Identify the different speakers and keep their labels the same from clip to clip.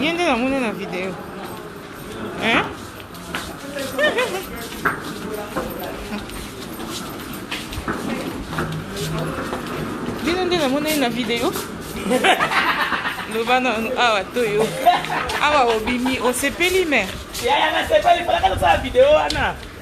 Speaker 1: ye nde namona na video bino nde namona ye na video loba nanu awa toyo awa obimi osepeli mere yaya nasepeli
Speaker 2: falaka tosala video wana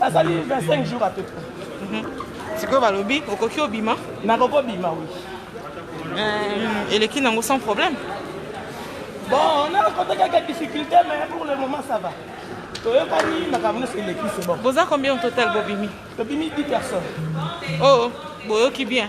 Speaker 1: Bazali
Speaker 2: 25 jours à peu près. Mhm. sikoyo balobi
Speaker 1: okoki obima nakoki obima wi
Speaker 2: euh, eleki
Speaker 1: nango sans problème
Speaker 2: bon nakota kaka difficulté mais pour le moment ça va toyokani makambo nyonso eleki se
Speaker 1: bon boza combien au total bobimi tobimi 10 personnes
Speaker 2: oh
Speaker 1: boyoki bien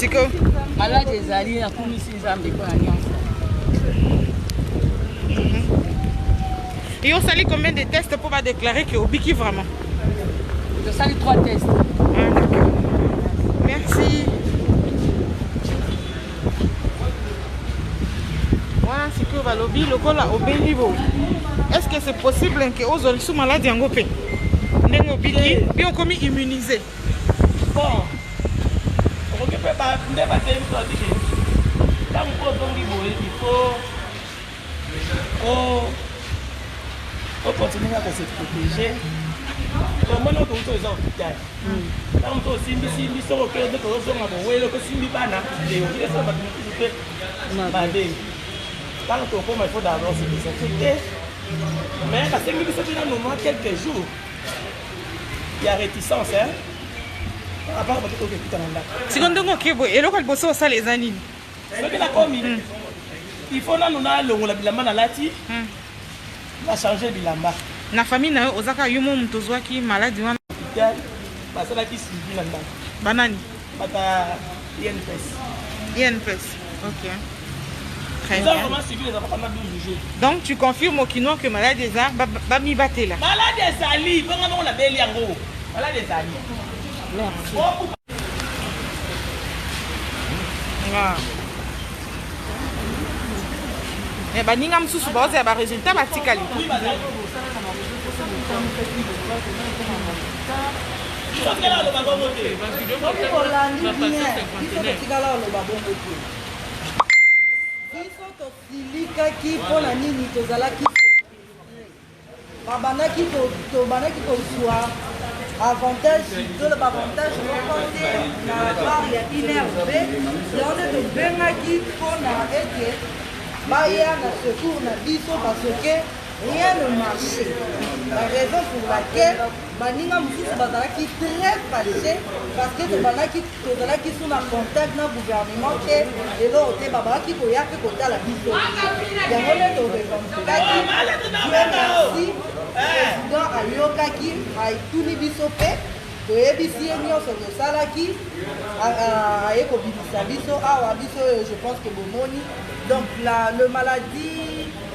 Speaker 3: siko maladi
Speaker 1: ezali
Speaker 3: nakumisi nzambe mpo na
Speaker 1: nyonso yo osali combien de teste mpo badeklare ke obiki vraiment
Speaker 3: tosali trois teste
Speaker 1: merci wana sikoyo balobi lokola obendi bo est ce que c'est possible ke ozwa lisu maladi yango mpe ndenge obiki mpe okomi immunise bon
Speaker 2: okoki mpe nde batei biso babi ke ntango mpo ozongi boye ifo okontinue kaka se protege omoni oto uto eza hopital ntango mpe osimbisimbi soko oke nde tozozonga bowele mpe osimbi bana eokiesa bato mosusu mpe mabe ntango tokoma ifo davance biso te mais basengi biso mpe nano mwa quelques jours ya reticence hein apart bato toke kuta na ndako siko ndenge
Speaker 1: oke boye eloko liboso osala eza nini soki nakomi
Speaker 2: hmm. il faut nanu nalongola bilamba nalati hmm. na change bilamba na famille na yo
Speaker 1: oza kaka yo mo moto ozwaki maladi wana hopital
Speaker 2: basalaki suivi na ndako banani Bato ya INPS.
Speaker 1: INPS, ok. Très bien.
Speaker 2: Donc tu confirmes au
Speaker 1: Kinois que malade eza bami batela. Malade ezali,
Speaker 2: bonga bongo na beli yango. Malade ezali. Merci. Oh,
Speaker 1: ah. Mais eh, baninga mosusu baoza ya baresultat batikali. Oui,
Speaker 2: Tikela aloba bongo te.
Speaker 3: Soki olandi bien, biso totikala oloba bongo te. Biso tosilikaki mpo na nini tozalaki babandaki tobandaki kozwa avantage tolo baavantage moko te na bar ya inrb yango nde tobengaki mpo na ete baya na secours na biso parce que rien ne marche la raison pour laquelle baninga mosusu bazalaki très fâché parce que tobandaki tozalaki su na contact na gouvernement te eloko te babakaki koya mpe kotala biso yango nde torevendifikaki merci président ayokaki atuni biso mpe toyebisi ye nyonso tosalaki aye kobimisa biso awa biso oyo je pense que bomoni donc la, le maladie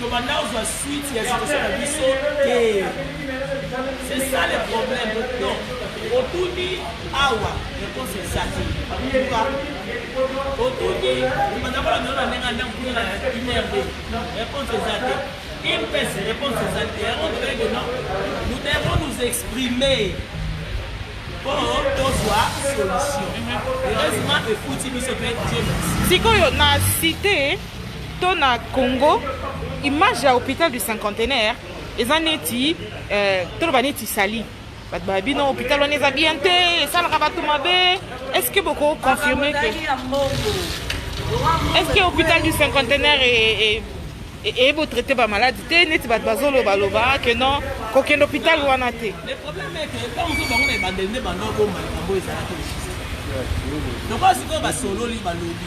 Speaker 2: Tobanda kozwa suite ya situation na biso te. C'est ça le problème. Donc, otuni awa réponse eza te. Otuni obanda kola nona ndenge anda kuna na inrd réponse eza te. Une pèse réponse eza te. Yango tobele que non, nous devons nous exprimer mpo tozwa solution. Heureusement efuti biso mpe
Speaker 1: Dieu
Speaker 2: merci.
Speaker 1: Sikoyo
Speaker 2: na
Speaker 1: cité
Speaker 2: To na
Speaker 1: Congo image ya hopital du cinquantenaire eza neti euh, toloba neti sali bato ba bino hopital wana eza bien te esalaka bato mabe est ce que boko confirme que est ce que hopital du cinquantenaire e, eye botraite bamaladi te neti bato bazolobaloba ke non kokende hôpital wana te
Speaker 2: lokola sikoyo basololi balobi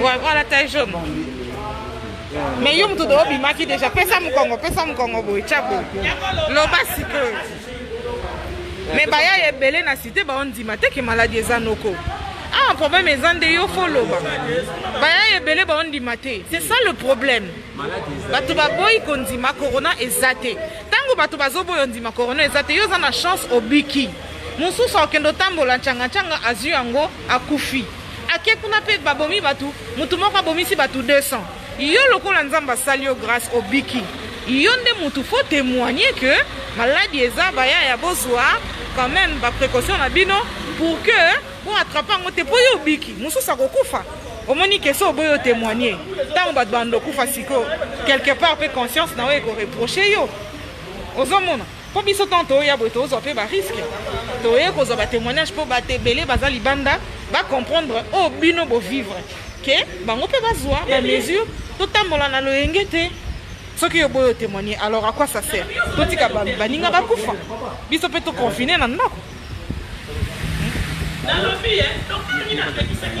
Speaker 1: Ouais, voilà ta jaune. Mais yo mutu dobi maki déjà pesa mukongo pesa mukongo boy chabo. Loba sikoyo. Mais baya ebele na cité ba ondima te ke maladie eza noko. Ah problème eza nde yo fo loba. Baya ebele ba ondima te. C'est ça le problème. Bato baboyi kondima corona eza te. Tango bato bazoboyi ondima corona eza te yo oza na chance obiki. Mosusu akende otambola ncanga ncanga azwi yango akufi ake kuna mpe babomi bato motu moko abomisi bato 200 yo lokola nzambe asali yo grâce obiki yo nde motu fo témoigne que maladi eza bayaya bozwa quand même baprécaution na bino pour que boatrape yango te mpo yo obiki mosusu akokufa omoni kese oboyi otémoigne ntango bato bando okufa sikoyo quelque part mpe conscience na yo ekoreproche yo ozomona mpo biso ntango toya boye tozwa mpe bariske toye kozwa batémoignage mpo bato ebele baza libanda bacomprendre oyo oh, bino bovivre ke bango mpe bazwa bamesure totambola na loyenge te soki yo boyo témoigne alors à quoi ça sert totika baninga bakufa biso mpe toconfine na ndako
Speaker 2: nalobi eh, tokangi na pekisaki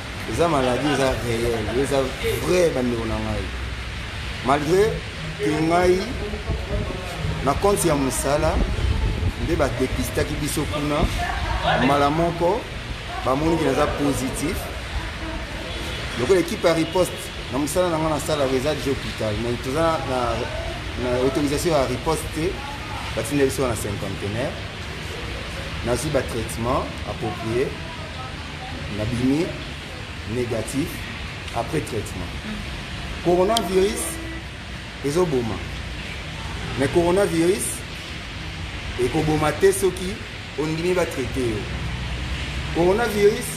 Speaker 4: eza maladie eza réel eza vrai bandeko na ngai malgré ke ngai na konti ya mosala nde badepistaki biso kuna mbala moko bamoni ke naza positif lokola ekipe ya riposte na mosala na ngai nasalaka eza je hôpital mai toza na autorisation ya riposte te batinda biso na cinquantenaire nazwi batraitement approprié na bimi négatif après traitement coronavirus ezoboma mais coronavirus ekoboma te soki ondimi batraite yo coronavirus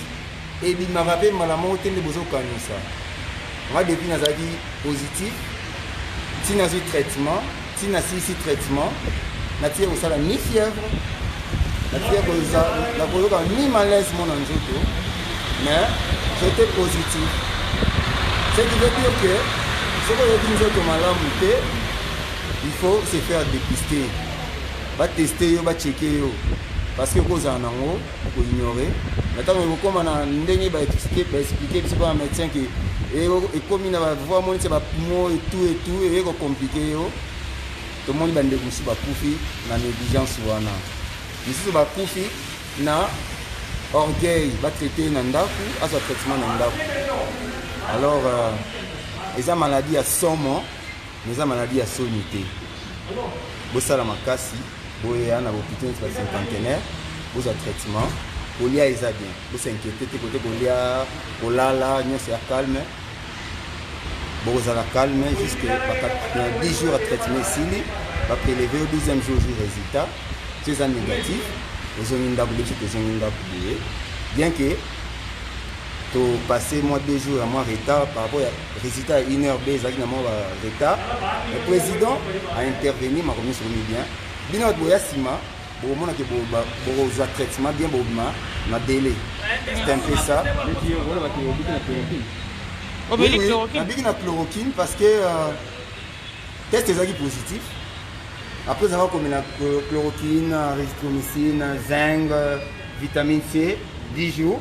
Speaker 4: ebimaka mpe mbala moko te nde bozokanisa nga depuis nazalaki positif ntina azwi traitement ti nasilisi traitement natika kosala ni fièvre natika koza nakoyoka ni malaise mona nzoto mais j'étais positif ce qui veut dire que soki oyoki nzoto malamu te il faut se faire dépister bateste yo bacheke yo parce que okozala nango Ko ignorer. Mais tant que comme na ndenge ba expliquer ba expliquer biso ba médecin qui et et comme na ba voix moni ba poumons et tout et tout et ko compliquer yo. To moni ba ndeko musu ba kufi na négligence wana. Musu ba kufi na orgueil ba traiter na ndaku aza traitement na ndaku. Alors euh, eza maladie ya somo mais eza maladie ya soni te. Bosala makasi boya na hopitaux neti ba cinquantenaire bozwa traitement kolia eza bien bosinquiete te kote kolia kolala nyonso ya calme bokozala calme jusque na 10 jours ya traitement esili bapeleve yo 12e jour jour résultat so eza négatif ozongi ndako beti tozongi ndako boye bien que topasse mwa 2 jours ya mwa retard par rapport ya Résultat ya une heure be ezalaki na mwa ba retard. Le président a intervenu makambo nyonso ekomi bien. Bino bato boya nsima bokomona ke bokozwa traitement bien bobima na délai. C'est un peu ça. nabiki na chloroquine parce que euh, test ezalaki positif après ezalaka komela chloroquine erythromycine zinc vitamine c 10 jours